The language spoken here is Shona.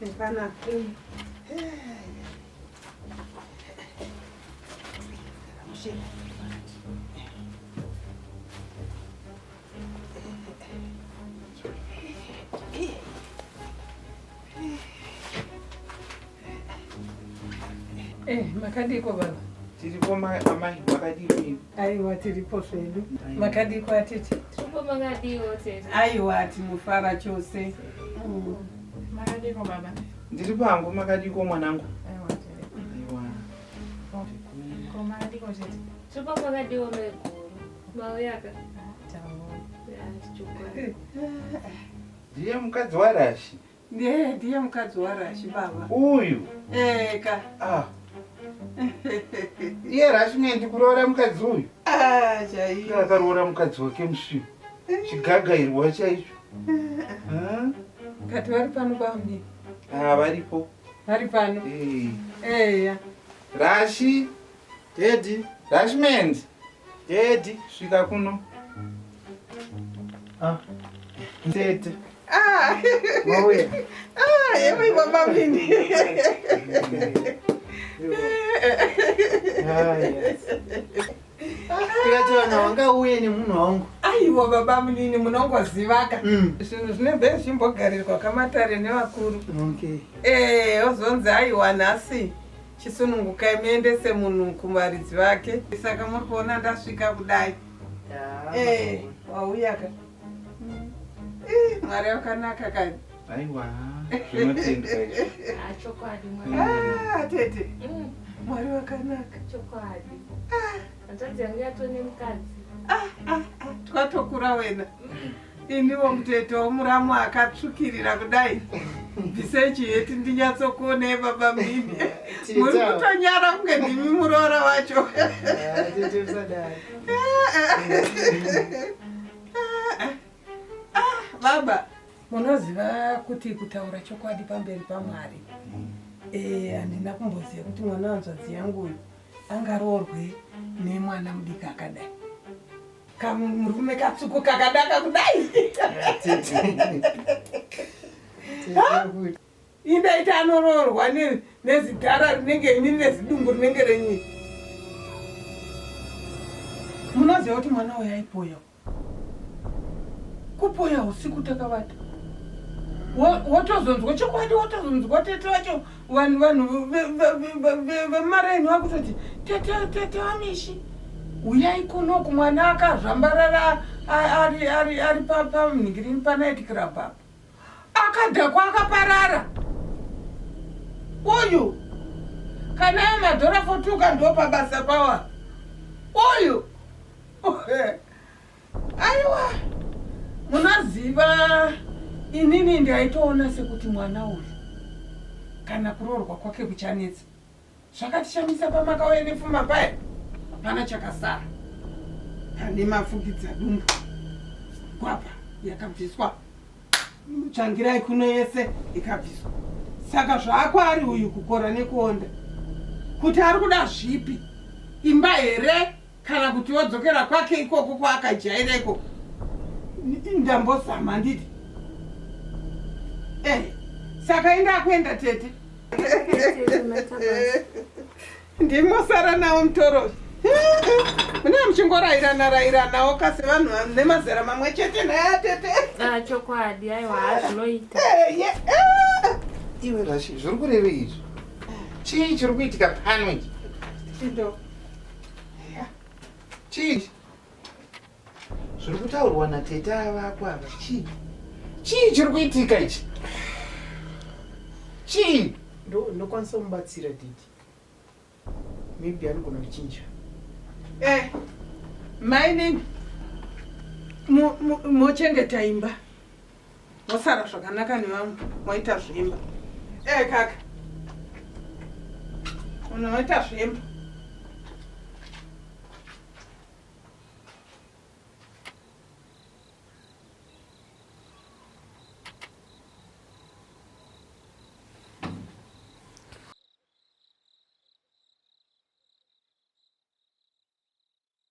Hapana. Eh, makadiko baba. Tiripo amai makadiko ivi. Aiwa tiripo zvedu. Makadiko atete. Tiripo makadiko tete. Aiwa tinofara chose. Mm. Makadiko baba. Ndiri pangu makadiko mwanangu. Aiwa. Ko makadiko chete. Tupo pakadiwa meguru. Mauyaka. Ndiye mukadzi warashi. Ndiye ndiye mukadzi warashi baba. Uyu. Eka. Ah. Iye rashi mwendi kuroora mukadzi uyu. Ah, chaiyo. Akaroora mukadzi wake musvinu. Chigagairwa chaicho. Kati vari pano bambi. Ah, varipo. Vari pano. Eh. Eya. Rashi. Daddy. Rashmand. Daddy. Svika kuno. Ah. Tete. Ah. Mauya. Ah, yewe baba mini. Ah, yes. tikati vana wanga uye nemunhu wangu aiwa baba munini munongozivaka mm. zvinhu zvinenge zvimbogarirwa kamatare nevakuru okay. e, ozonzi aiwa nhasi chisunungukai muendese munhu kumaridzi vake saka muri kuona ndasvika kudai e, wauyaka Eh, mwari wakanaka kani aiwa zvinotendwa izvi Ah, chokwadi mwana. Ah, tete Mm, mwari wakanaka chokwadi. Hanzvadzi yangu yatone mukadzi. twatokura wena iniwo mutete womuramu akatsvukirira kudai bvisei chiheti ndinyatsokuonei baba mhini muri kutonyara kunge ndimi muroora wacho Ah, tete usadaro baba munoziva kuti kutaura chokwadi pamberi pamwari eh, handina kumboziva kuti mwana wanzvadzi yangu uyu angaroorwe nemwana mudiki akadai kamurume katsuku kakadaka kudai Inda ita anoroorwa nezidhara rinenge ini nezidumbu rinenge renyi. Munoziva kuti mwana uyu aipoya. Kupoya usiku takavata. Wotozonzwa chokwadi wotozonzwa tete wacho vanhu vanhu vemaraini vakutoti tete tete wamishi uyai kunoku mwana akazvambarara ari pamhingirini panaiti kirabha akadhakwa akaparara uyu kana amadhora fotuka ndo pabasa pawa uyu aiwa munoziva inini ndaitoona sekuti mwana uyu kana kuroorwa kwake kuchanetsa zvakatishamisa pamakauya nepfuma paya hapana chakasara pane mafukidza dumbu gwapa yakabviswa tsvangirai kuno yese ikabviswa saka zvaako ari uyu kukora nekuonda kuti ari kuda zvipi imba here kana kuti wodzokera kwake ikoko kwaakajaira ikoko ndambozama nditi eh, saka inda akuenda tete ndimosara nawo mutoro mune muchingorairana rairanawo kasi vanhu vane mazera mamwe chete naya tete ah, chokwadi aiwa hazvinoita eh, eh. iwe rashi zviri kureve izvi chii chiri kuitika pano ichi Chii? Zviri kutaurwa natete ava apo ava chii? Chii chiri kuitika ichi? Chii? Ndo ndokwanisa kumubatsira didi. Maybe anogona kuchinja. Eh, mainini. Mo- mo- Mochengeta imba. Mosara zvakanaka nevamwe moita zvemba. Eh kaka. Unoita zvemba.